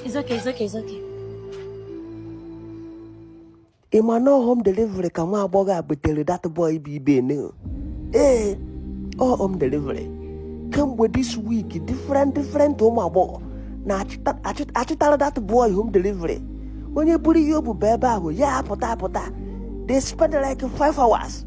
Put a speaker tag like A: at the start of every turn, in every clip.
A: It's
B: okay, it's okay, it's okay. ị ma na home delivery ka nwa agbọghọ a butere that boy bụ Ibe ne ee ọ home delivery kemgbe this week different different ụmụ agbọghọ na-achịtara that boy home delivery onye buru ihe o bu baa ebe ahụ ya apụta apụta they spend like five hours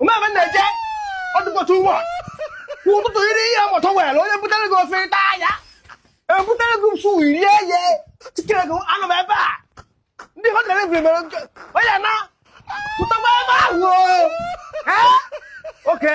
B: ọ ma ebe na-eje ọ dịkwa too much kwa ụtụtụ iri ihe mụtụ were onye butere gị ofe ịta anya ebutere gị msu rie ye tikere gị anọ m ebe a ndị home delivery mere nke onye na-apụtakwa ebe ahụ o. Eh? oke